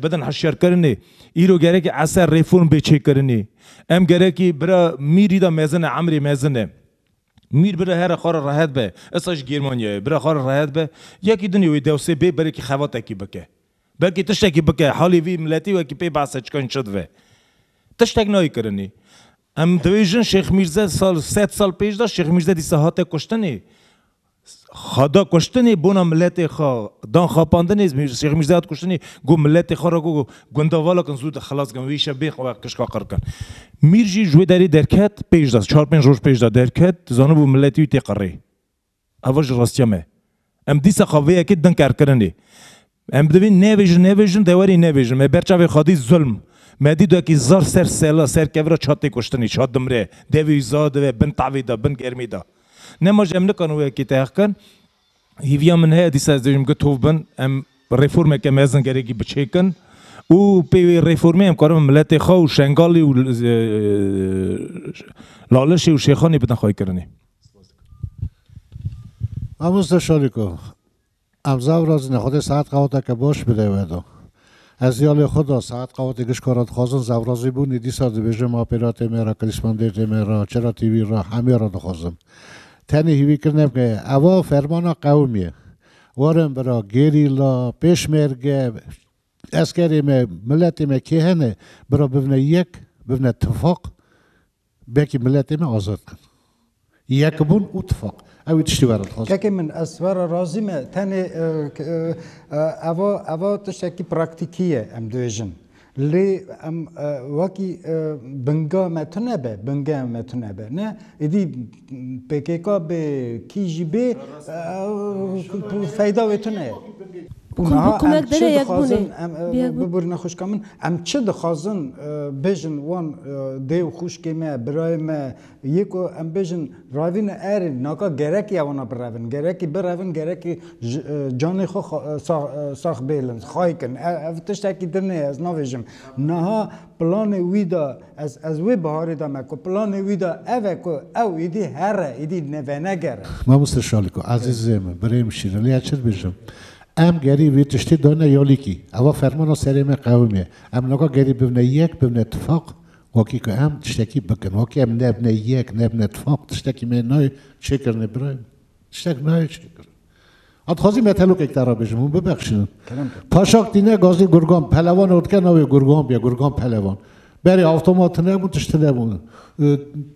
bidin hişyarkirinê. Îro gerekî eser, reform bê çêkirinê. Em gerekî bira mîrî de mezin e, emrê mezin e. Mîr bira here xwe re rehet be. Esa ji Gêrmanyayê. Bira xwe re rehet be. Yekî dinê wê dewsê bê berekî xebatekî bike. Belkî tiştekî bike. Halê vî miletî wekî pê behse çika hîn çi dive. Tiştek nayê kirinî. Em dibêjin Şêx Mîrze sal sed sal pêş de Şêx Mîrze dîsa hate kuştinî. Xwe da kuştinê bona miletê xwe, dan xapandinê Şêx Mîrzeya di kuştinê got miletê xwe re got gundavalakin zû xilas bikin, wê îşev bê xwe ve kişka qir bikin. Mîr jî ji wê derê derket pêş de çar pênc roj pêş de derket zanibû miletê wî tê qirê. Eva ji rastiya me. Em dîsa xwe vê yekê din kerkirinê. Em bi divî nebêjin, nebêjin, dewerî nebêjin. Me ber çavê xwe dît zulm. Me dît wekî zar ser sela, ser kevra çat tê kuştinî, çat dimre. Devî wî za dive bin tavî de, bin germî de. Nema jî em nikarin wekî te heq kin. Hêviya min heye dîsa ez dibêjim ku tov bin, em reformeke mezin gerekî biçêkin û pê wê reformê em karin miletê xwe û Şengalê û Lalişê û Şêxanê bidin xweykirinê. Mamoste Şariko. Em zaf razîne Xwedê saet qaweteke baş bide we do. Ez ya lê xwe da saet qawetê gişka ra dixwazin zaf razî bûnî dîsa dibêje ma pê ra tê me ra Klîsman dê tê me ra çira tîvî ra hemê ra dixwazim. Tenê hîvî kirine bike eva fermana qewim ye. Warin bira gerîla, pêşmerge, eskerê me, miletê me kê hene bira bibne yek, bibne tifaq. Belkî miletê me azad bikin. Yekbûn û tifaq. Ew ê tiştî were dixwazin. Kekê min ez were razî me. Tenê eva eva tiştekî praktîkî ye em dibêjin. Lê em wekî binga me tune be, bingeya me tune be ne. Êdî Pkk bê kî jî bê feyda wê tune ye. Û niha em çi dixwazin, bibur nexwişka min, em çi dixwazin bêjin wan dê û xwişkê me, birayê me yê ku em bêjin ravîn e erê naka gerekî ye wana birevin, gerekî birevin, gerekî canê xwe sax bêlin, xaykin. Ev tiştekî din e ez navêjim. Niha planê wî de. Ez ez wê biharê de me ku planê wî de ev e ku ew êdî here, êdî venegere. Mamoste Şaliko ezîzê min, birê min şîrin lê ez çi dibêjim? Em gerî vê tiştê dane yalîkî. Eva fermana serê me qewim e. Em naka gerî bibne yek, bibne tifaq wakî ku em tiştekî bikin. Wakî em nebine yek, nebine tifaq tiştekî me nayê çêkirinê birayê min. Tiştek nayê çi kir. Hat xwazî me telokek te re bêjim, hûn bibexşînin. Paşak tîne gazî gurgan, pelevan ot ke navê gurgan biye, gurgan pelevan. Berê avtomat tine bûn, tişt tine bûn.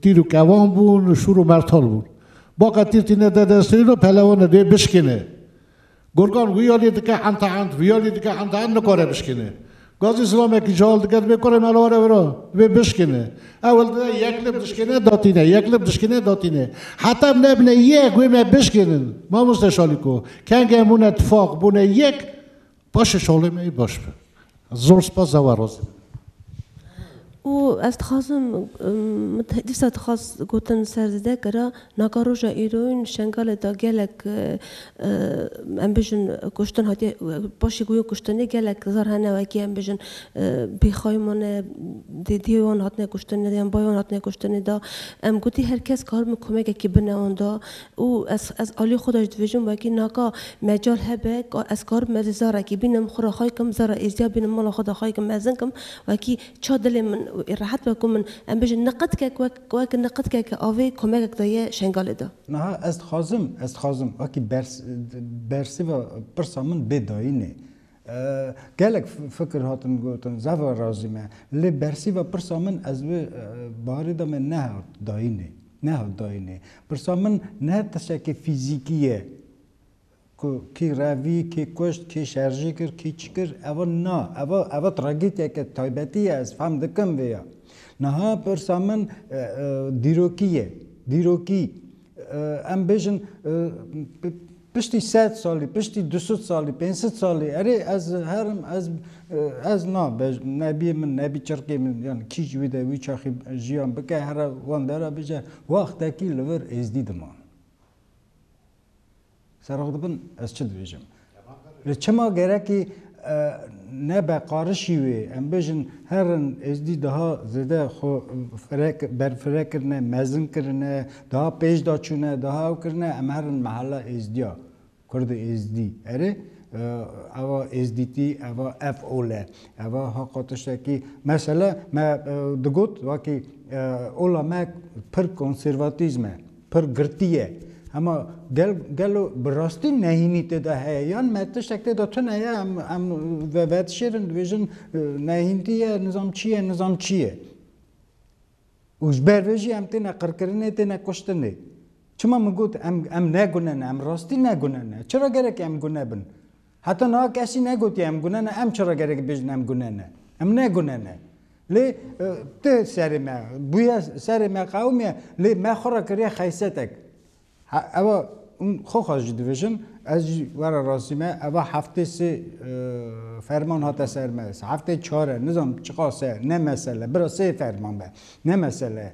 Tîr û kevan bûn, şûr û mertal bûn. Baka tîr tîne de destê no pelevan e dê bişkine. Gorgan wiyalî dike enta ent, wiyalî dike enta ent nikare bişkîne. Gazî zilamekî cihal dike divê kurê mala were wira, divê bişkîne. Ewil dide yek lib dişkîne datîne, yek lib dişkîne datîne. Heta em nebine yek wê me bişkînin. Mamoste Şalîko, kengên bûne tifaq, bûne yek, paşê şalê me yê baş be. Zor spas ew e razî bibin. Û ez dixwazim min dîsa dixwaz gotin ser zêde kira naka roja îroyîn Şengalê de gelek em bijin kuştin hatiye paşê ku wê kuştinê gelek zar hene wekî em bijin bêxay mane dêdiyê wan hatine kuştinê de yan bayê wan hatine kuştinê de em gotî her kes karibin komekekî bine wan de Û ez ez alî xwe de ji dibêjim wekî naka mecal hebe ka ez karibim ez ê zarekî bînim xwe re xay kim zara êzdiya bînim mala xwe de xay kim mezin kim wekî ça dilê min ê rehet be ku min em bêjin niqidkek wek wek niqidkeke avê komegek de ye Şengalê de. Niha ez dixwazim ez dixwazim wekî bers bersiva pirsa min bê dayînê Gelek fikir hatin gotin, zehra razî me. Lê bersîva pirsa min ez wê barê de me nehat dayînê. Nehat dayînê. Pirsa min ne tişekê fîzîkî ye ku kî revî, kî kuşt, kî şerjî kir, kî çi kir. Eva na. Eva eva tragîdyeke taybetî ye. Ez fehm dikim vê ya. Niha pirsa min dîrokî ye. Dîrokî. Em bêjin piştî sed salî, piştî du sed salî, pênc sed salî erê ez herim ez ez na nebiyê min nebî çirkê min yan kîj wî de wî çaxî jiyan bike here wan de re bije wextekî li vir êzdî diman. Serok dibin ez çi dibêjim. Li çima gerekî ne beqarişî wê em bêjin her in êzdî daha zêde xwe firek berfirek kirine, mezin kirine, daha pêş de çûne, daha ew kirine em her in mehella êzdiya kurd û êzdî erê eva êzdîtî eva ev ol e eva haqa tiştekî mesele me digot vakî ola me pir konservatîzm e. Pir girtî ye. Hema gel gelo bi rastî nehînî tê de heye yan me tiştek tê de tune ye em em vedişêrin dibêjin nehîntî ye nizam çi ye nizam çi ye. Û ji ber vê jî em têne qirkirinê têne kuştinê. Çima min got em em ne gune ne em rastî ne gune ne. Çira gerek em gune bin. Heta niha kesî negotiye em gune ne, em çira gerek bêjin em gune ne. Em ne gune ne. Lê ti serê me bûye, serê me qewimiye, lê me xwe re kiriye xeysetek. Eva hûn xwe xwe jî dibêjin, ez jî were rastî me, eva heftê sê ferman hate ser me, heftê çar e, nizanim çiqas e, ne mesele, bira sê ferman be, ne mesele ye.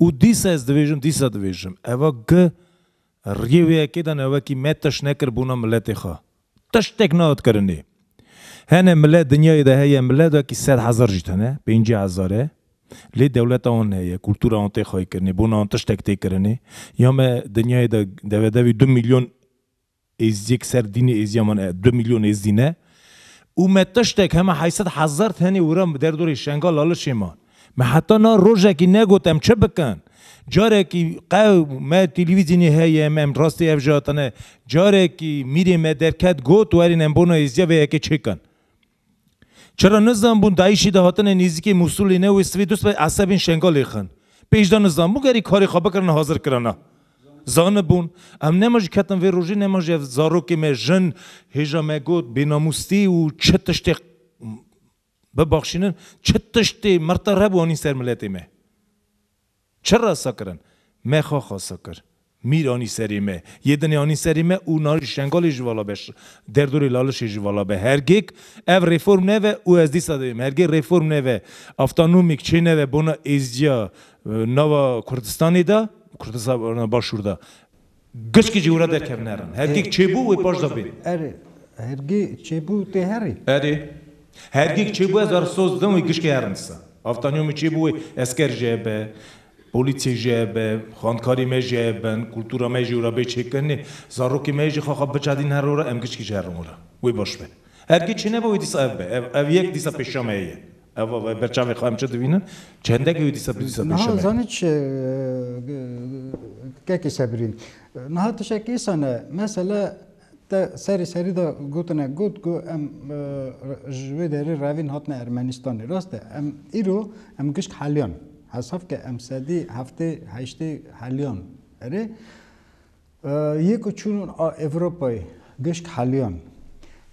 Û dîsa ez dibêjim, dîsa dibêjim, eva gi riyê wê yekê de ne wekî me tişt nekir bûna miletê xwe. Tiştek nayot kirinê. Hene milet dinyayê de heye, milet wekî sed hezar jî tune, pêncî hezar e. Lê dewleta wan heye, kultura wan tê xaykirinê, bûna wan tiştek tê kirinê. Ya me dinyayê de devedevî du milyon. Êzidiyek ser dînê êziyaman e, du mîlyon êzidî ne û me tiştek heme heyset hezar tenê wira bi derdorê Şengal Lalişê man. Me heta na rojekî negot em çi bikin. Carekî qew me televîzyonê heye em em rastî ev jî hatine. Carekî mîrê me derket got werîn em bona êziya vê yekê çêkin. Çira nizanbûn DAIŞ'î di hatinê nêzîkê Mûsulê ne wê sivê dust be esebên Şengalê xin. Pê jî da nizanbûn gerî karê xwe bikirin hazir kirina. Zanibûn. Em nema jî ketin vê rojê nema jî ev zarokê me jin hêja me got bênamûstî û çi tiştê bibaxşînin çi tiştê mirte re bû anîn ser miletê me. Çi rasa kirin? Me xwe xasa kir. Mîr anî serê me. Yê dinê anî serê me û narî Şengalê ji vala be, derdorê Lalişê ji vala be. Hergêk ev reform neve û ez dîsa dibêm, hergê reform neve, avtanomîk çê neve bona êzdiya nava Kurdistanê de, Kurdistana Başûr de. Gişkî jî wira derkevin herin. Hergîg çêbû wê paşda bê. Erê, hergî çêbû tê herî? Erê, hergîg çêbû ez ara soz didim wê gişkî herin disa. Avtaniyo min çêbû wê esker jê hebe, polîsê jê hebe, xankarî me jê hebin, kultura me jî wira bê çêkirinê, zarokê me jî xaxa biçadîn her wira em gişkî jî herin wira. Wê baş be. Hergî çênebe wê disa ev be. Ev ev yek disa pêşiya me heye. Ev e ber çavê xwe em çi dibînin? Çendekî wê dîsa bi dîsa pêşeme ye. Zanî çi kekê Sebrî. Niha tişek îsa ne. Mesele te serî serî de gotine got ku em ji wê derê revîn hatine Ermenistanê. Rast e em îro em gişt heliyan. Hesab ke em sedî heftê heştê heliyan erê. Yê ku çûn Ewropayê gişt heliyan.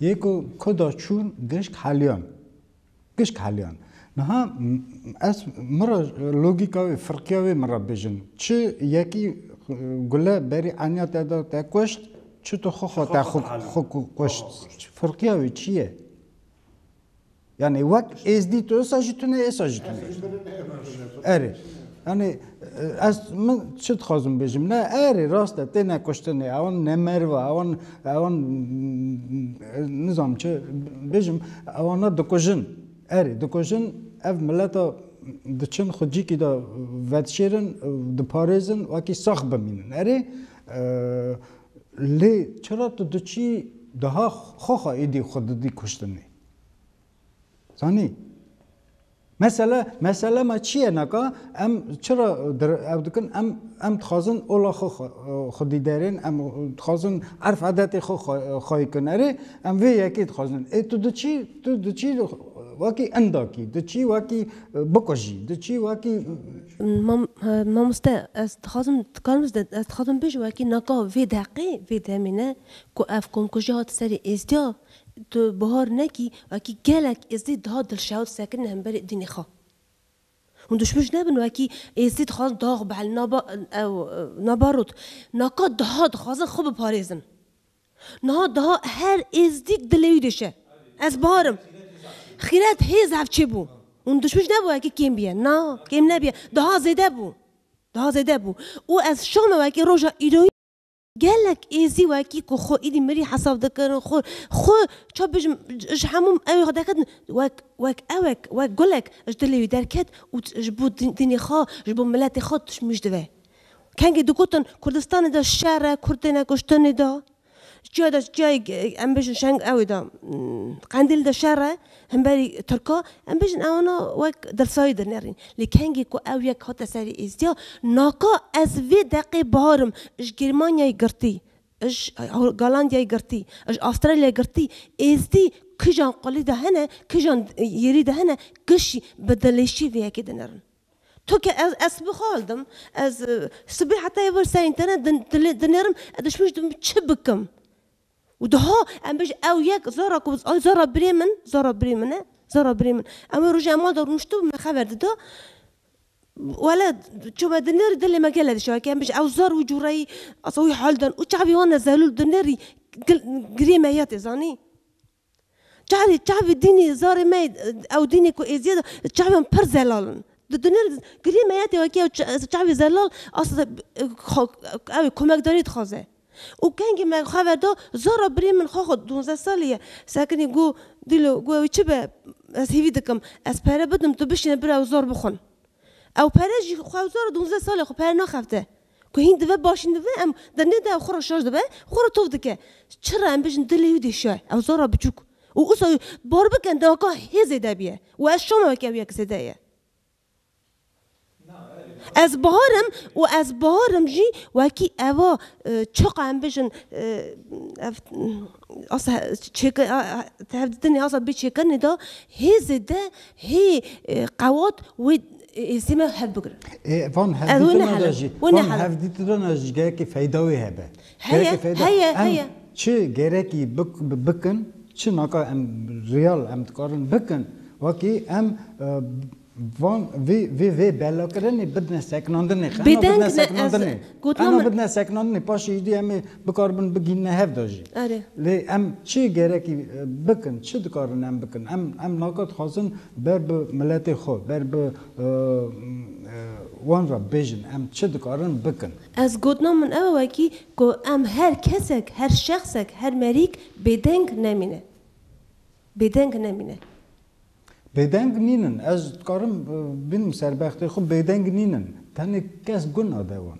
Yê ku kuda çûn gişt heliyan. Pişt heliyan. Niha ez min re logîka wê, firqiya wê min re bijin. Çi yekî gule berî eniya te da te kuşt, çi tu xwe xwe te xwe kuşt. Firqiya wê çi ye? Yani wek êzdî tu êsa jî tune êsa jî tune. Erê. Yani Ez min çi dixwazim bêjim ne erê rast e têne kuştinê ewan ne merva ewan ewan nizam çi bêjim ewana dikujin erê dikujin ev mileta diçin xwecîkî de vedişêrin diparêzin wekî sax bimînin erê lê çira tu diçî daha xwexa êdî xwe didî kuştinê. Zanî. Mesele mesele me çi ye naka em çira ew dikin em em dixwazin ola xwe xwedî derên em dixwazin erf edetê xwe xwayî kin erê em vê yekê dixwazin. Ê tu diçî tu diçî wekî indakî diçî wekî bikujî diçî wekî Mamoste ez dixwazim dikarim ez dixwazim bijim wekî naka vê deqê vê demê ne ku ev komkujiya hat serê êzdiya Tu bihar nekî wekî gelek Êzidî dihat dilşewt sekinî hemberî dînê xwe. Hûn duşmuc nebin wekî Êzidî dixwazin dax bielin naba ew naba rot. Naka diha dixwazin xwe biparêzin. Niha diha her Êzidîk dilê wî diş e. Ez bihar im. Xîret hê zehf çê bû. Hûn duşmuc nebin wekî kêm bîye. Na, kêm nebîye. Diha zêde bû. Diha zêde bû. Û ez şama wekî roja îroyî. Gelek êzî wekî ku xwe êdî mirî hesab dikirin, xwe xwe çawa bêjim ji hemû ew xwe derketin wek wek ewek wek gulek ji dilê wî derket û ji bo dînê xwe ji bo miletê xwe tişmîj dibe. Kengî digotin Kurdistanê de şer e, Kurd têne kuştin êda, çiya de çiyayê em bêjin şeng ewê de Qendîl de şer e, Hemberî Tirka, em bêjin ew na wek dilsayî dinêrîn. Lê kengî ku ew yek hate serî êzdiya, naka ez vê deqê barim ji Germanyayê girtî, ji Galandiyayê girtî, ji Astralyayê girtî, êzdî kijan qulî de hene, kijan yêrî de hene, kişî bi dilêşî vê yekê dinêrin. Tu ke ez ez sibê xwe hildim, ez sibê heta êvar ser înternet dinêrim, ez dişmî ji dibin çi bikim? Û diha em bêj ew yek zora ku ay zora birê min, zora birê min e, zora birê min. Em wê rojê em malda rûniştibû me xeber dida. Wele çome di nêrî dilê me gele dişa ke em bêj ew zor wî cûreyî asa wî hal dan û çavê wan e zelûl di nêrî girê me ya tê zanî. Çavê çavê dînê zarê me ew dînê ku êziyê da çavê wan pir zelal in. Di dunya de giliyê meyetê wekî ew çavê zelal asla ew ê komekdarî dixwaze. Û kengî me xwe ve da zora birê min xwe xwe dûnze salî ye sekinî got dîlo got ewî çi be ez hêvî dikim ez pere bidim tu bişîne bira ew zor bixwin. Ew pere jî xwe zora dûnze sal e xwe pere naxebite. Ku hîn dive başîn dive em de nê de xwe re şaş dibe xwe re tovt dike. Çi re em bijin dilê wî dê şe ew zor re biçûk û usa bar bikin deweka hê zêde biye û ez şama weke wiyek zêde ye. Ez Bahar im û ez Bahar im jî wekî eva çaqa em bijin ev asa çêkir tevdîtinê asa bê çêkirinê de hê zêde hê qewat wê Ê sîma hev bigirin. Ê van hevdîtina de jî van hevdîtina de jî gelekî feyda wê hebe. Heye, heye, heye. Çi gerekî bikin, çi naka em riyal em dikarin bikin wekî em van vê vê vê belakirinê bidine sekinandinê. Xema bidine sekinandinê. Xema bidine sekinandinê paşê îdî em ê Dikaribin bigîn ne hev de jî. Erê. Lê em çi gerekî bikin, çi dikarin em bikin? Em em naka dixwazin ber bi miletê xwe, ber bi wan re bêjin em çi dikarin bikin. Ez gotina min ew e wekî ku em her kesek, her şexsek, her merîk bêdeng nemîne. Bêdeng nemîne. Bêdeng nînin. Ez dikarim bînim serbextê xwe bêdeng nînin. Tenê kes gun nade wan.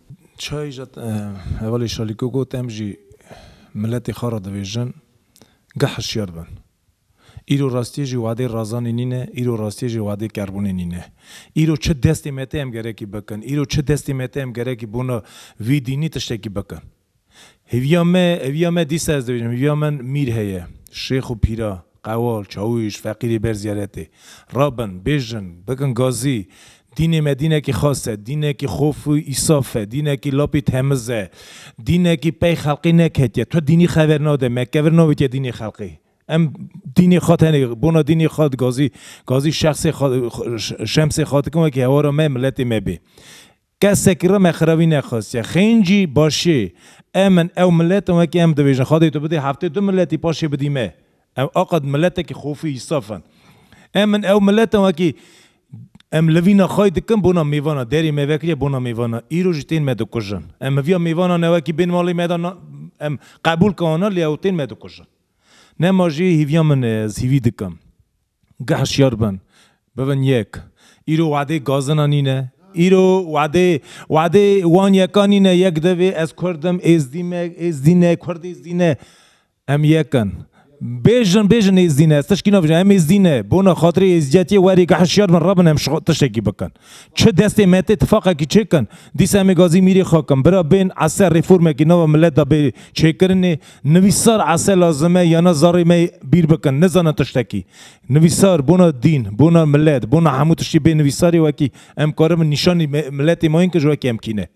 Çayê jî hevalê Şalîko got em jî miletê xwe re dibêjin geh hişyar bin. Îro rastiyê jî wadê Razanê nîne, îro rastiyê jî wadê Kerbûnê nîne. Îro çi destê me tê em gerekî bikin, îro çi destê me tê em gerekî bona vî dînî tiştekî bikin. Hêviya me, hêviya me dîsa ez dibêjim, hêviya min mîr heye, şêx û pîra, qewal, çawûş, feqîrê ber ziyaretê. Rabin, bêjin, bikin gazî. Dînê me dînekî xas e, dînekî xof û îsaf e, dînekî lap ê temiz e, dînekî pey xelqê neketiye. Tu dînî xever nade, me kevir navêtiye dînê xelqê. Em dînê xwe tenê bona dînê xwe gazî, gazî şexsê xwe, şemsê xwe dikin wekî hewara me, miletê me bê. Kesekî re me xirewî nexwestiye. Xêncî, başê. Em in, ew milet in wekî em dibêjin. Xwe dê tu bidî heftê du miletî paşê bidî me. Em aqad miletekî xofî û saf in. Em in, ew milet in wekî Em livîna xwe yê dikin bona mêvana. Derê me vekiriye bona mêvana. Îro jî tên me dikujin. Em hevîya mêvanan e wekî bên malê me de em qebûl ke wana lê ew tên me dikujin. Nema jî hêviya min e ez hêvî dikim. Ge hişyar bin, bibin yek. Îro wadê gazina nîne. Îro wadê wadê wan yeka nîne. Yek divê ez kurd im, êzdî me, êzdî ne, kurd êzdî ne. Em yek in. Bêjin bêjin êzdî ne. Ez tişkî nabêjim. Em êzdî ne. Bona xatirê êzdiyetiyê werê ge hişyar bin, re bin em ji xwe tiştekî bikin. Çi destê me tê tifaqekî çêkin, dîsa em ê gazî mîrê xwe kin. Bira bên ese rêformekî nava milet de bê çêkirinê. Nivîsar ese lazim e yana zarê me bîr bikin, nizanin tiştekî. Nivîsar bona dîn, bona milet, bona hemû tiştî bê nivîsarê wekî em karibin nîşanî miletê ma yên ki ji wekî em kîne.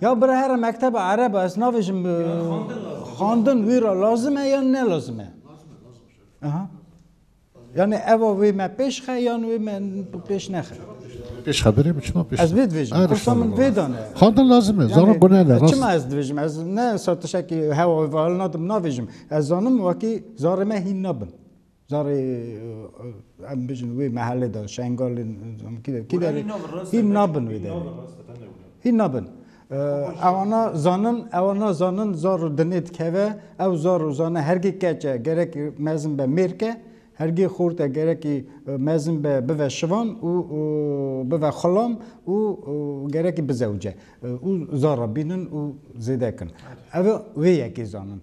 Ya bira here mekteba ereb a ez navêjim xandin wî ra lazim e yan ne lazim e? Aha. Yani eva wê me pêş xe yan wê me pêş nexe? Pêş xe birê mi çima pêş? Ez vê divêjim. Her Kursa min vê dane. Xandin lazim e. Zano gune ne. Çima ez divêjim? Ez ne satişekî hewa wê ve hal nadim navêjim. Ez zanim wekî zarê me hîn nabin. Carê em bijin wê mehelê de Şengalê kî derê hîn nabin wê derê. Hîn nabin. Ewana zanin ewana zanin zar û dinê dikeve ew zar û zane hergê keç e gerekî mezin be mêrk e, hergê xort e gerekî mezin be bive şivan û bive xulam û gerekî bizewce û zar re bînin û zêde kin. Ev wê yekê zanin.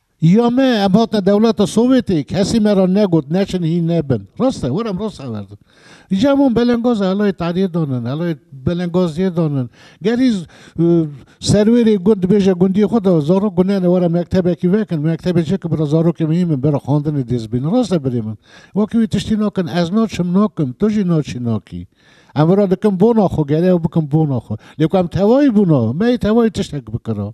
Ya me, em hatine dewleta Sowêtê, kesî me ra negot neçin hîn nebin. Rast e, were em rast averdin. Îcar em wan belengaz e, helayê Tehriyê danin, helayê Belengaziyê danin. Gerî serwêrê gund dibêje gundiyê xwe de zarok gunene were mektebekî vekin, mektebê çi ki bira zarokê min hîn bin, bira xwendinê dêst bînin. Rast e birê min. Wekî wî tiştî nakin, ez naçim nakim, tu jî naçî nakî. Em vira dikin bona xwe, gerê ew bikin bona xwe. Lê ku em tevayî bûna, me yê tevayî tiştek bikira.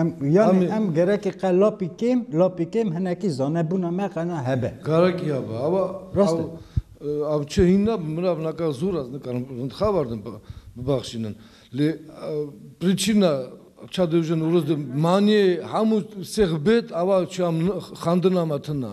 Em yanê em gerekî qe lapî kêm, lapî kêm hinekî zanebûna me qe na hebe. Gerekî ya be. Ava Rast e. ev çi hîn nabe. Mirav naka zû re nikarin rintxabar din bibaxşînin. Lê prîçîna ça dê ji Newroz de manîyê hemû sêx bêt ava çiya min xandina me tune.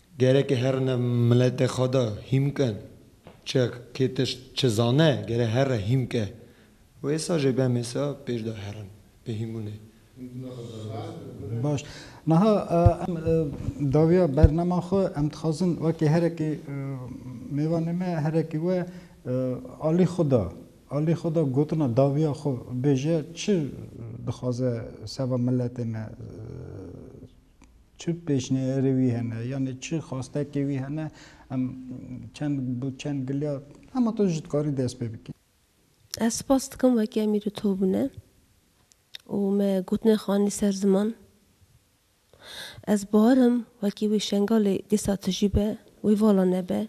Gerek e herine miletê xwe de hîmk e. Çi kê tişt çi zane gere here hîmk e. Wêsa jê be mêsa pêş de herin bi hîmbûnê. Baş. Niha em dawiya bernema xwe em dixwazin wekî herekî mêvanê me herekî we alî xwe da. Alî xwe da gotina dawiya xwe bêje çi dixwaze seba miletê me Çi pêşniyarê wî hene yanî çi xwastekê wî hene em çend bi çend giliya hema tu jî dikarî dest pê bikî. Ez spas dikim wekî em îro tobûne û me gotinê xanî ser ziman. Ez bahar im wekî wê Şengalê dîsa tijî be wê vala nebe.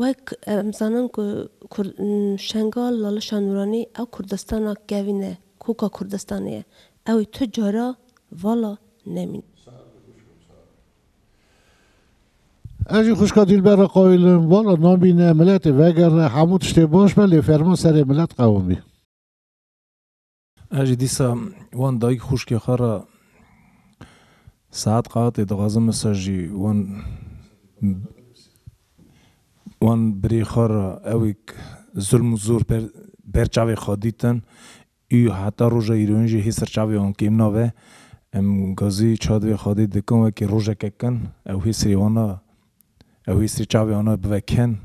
Wek em zanin ku kurd Şengal Lalişa Nûranî ew Kurdistana kevîn e koka Kurdistanê ye. Ew ê tu cara vala nemîn. Ez jî xwişka Dîlber re qayîlim, vala namîne, miletê vegere, hemû tiştê baş be lê ferman serê milet qewim bî. Ez jî dîsa wan dayîk xwişkê xwe re saet qatê dixwazim min ser jî wan wan birê xwe re ewêk zulm û zor ber ber çavê xwe dîtin. Û heta roja îrowîn jî hê serçavê wan kêm nabe. Em gazî çiya divê xwedê dikin wekî rojeke kin. Ew hê serê wan a, ew hê serê çavê wan a bibe kin.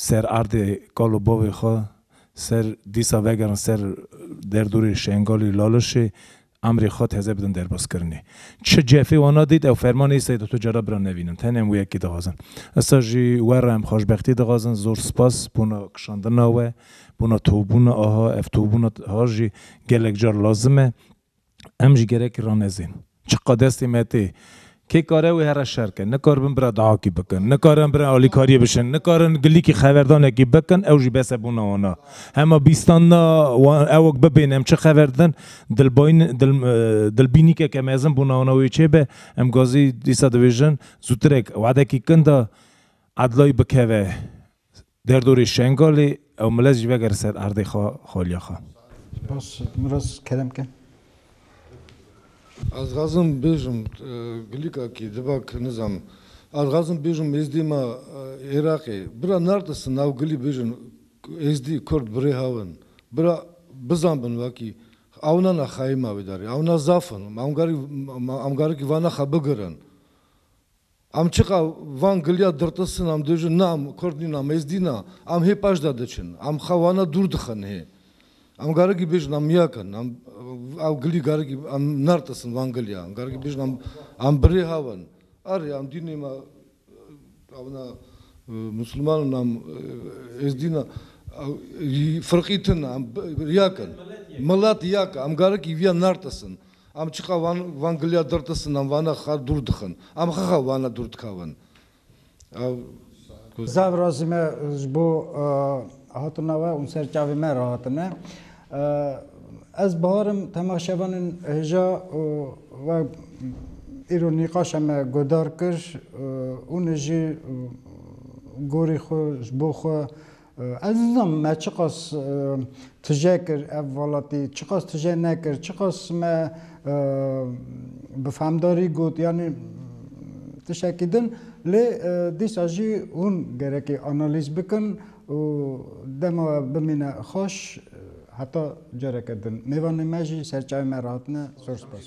Ser erdê kal û bavê xwe, ser dîsa vegerin ser derdorê Şengalê, Lalişê, Emrê xwe teze bidin derbazkirinê. Çi cefê wana dît ew fermanê îsayî dît û cara bira nevînin. Tenê em wê yekê dixwazin. Îsa jî we re em xweşbextî dixwazin. Zor spas bona kişandina we, bona tobûna aha. Ev tobûna aha jî gelek car lazim e. Em jî gerekî ranezên. Çiqad destê me tê Kê kare wê here şer ke, nikaribin bira dahakî bikin, nikarin bira alîkariyê bişin, nikarin gilîkî xeverdanekî bikin, ew jî bes e bona wan a. Hema bîstanda wan ewk bibêne em çi xever didin, dilbayîn dil dilbînîkeke mezin bona wana wê çêbe, em gazî dîsa dibêjin zûtirek, wedekî kinda edlayî bikeve Derdorê Şengalê ew milet jî vegere ser erdê xwe xaliya xwe. Spas Miras kerem kin. Ez dixwazim bêjim gilîka kî diva kî nizanim. Ez dixwazim bêjim êzdî ma Iraqê. Bira nerde si nav gilî bêjin êzdî kurd birê haw in. Bira bizanbin wakî ewna na xeyê ma wê darî. Ewna zaf in. Ewna em garikî vana xwe bigirin. Em çiqa van giliya dirtisin em dibêjin na em kurd nîn em êzdî na em hê paş de diçin em xwe wana dûr dixin hê em garekî bêjin em yek in em ew gilî garekî em nertisin van giliya em garekî bêjin em em bi rê hev in erê em dînê me ew ne misilman in em êzdî ne ew firqî tune em yek in milet yek e em garekî vîya nertisin. Em çiqa van van giliya dir tisin, em vane xwe dûr dixin. Em xwe xwe vane dûr dikevin. Ew. Zav razî me ji bo hatina we û ser çavê me re hatine. Ez Bahar im, tema şevan in hêja û wek îro nîqaşa me guhdar kir, hûn ê jî gorî xwe ji bo xwe Ez nizanim me çiqas tije kir ev welatî, çiqas tije nekir, çiqas me bi fehmdarî got yanî tiştekî din lê dîsa jî hûn gerekî analîz bikin û dema we bimîne xweş heta careke din. Mêvanê me jî ser çayê me re hatine. Zor spas.